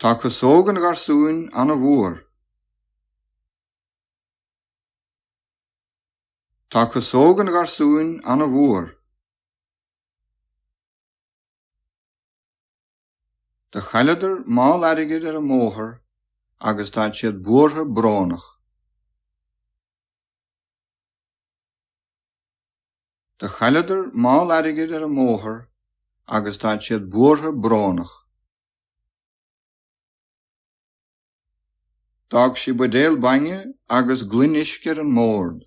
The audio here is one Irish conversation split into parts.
Tá casóg an gharsúin ana mhór. Tá casóg an gharsúin ana mhór. Do chailleadar mála airgid ar an mbóthar agus tánn siad buartha brónach. Do chailleadar mála airgid ar an mbóthar agus tánn siad buartha brónach. D'fhág sí buidéal bainne agus gloine uisce ar an mbord.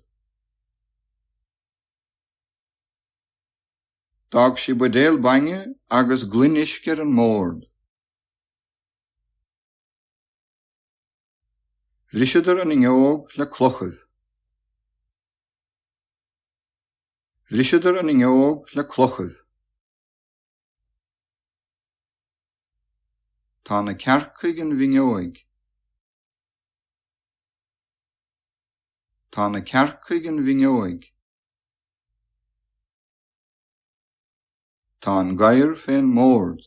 D'fhág sí buidéal bainne agus gloine uisce ar an mbord. Bhriseadar an fhuinneóg le clochaibh. Bhriseadar an fhuinneóg le clochaibh. Tá na cearca ag an bhfinneóig. Tá na cearca ag an bhfinneóig. Tá an gadhar fén mbord.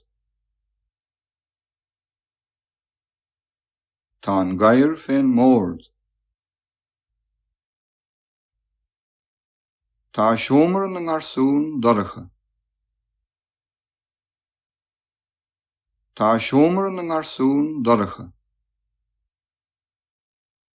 Tá an gadhar fén mbord. Tá seomra na ngarsún dorcha. Tá seomra na ngarsún dorcha.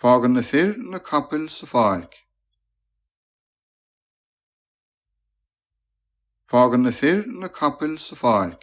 Fágann na fir na capaill sa pháirc. Fágann na fir na capaill sa pháirc.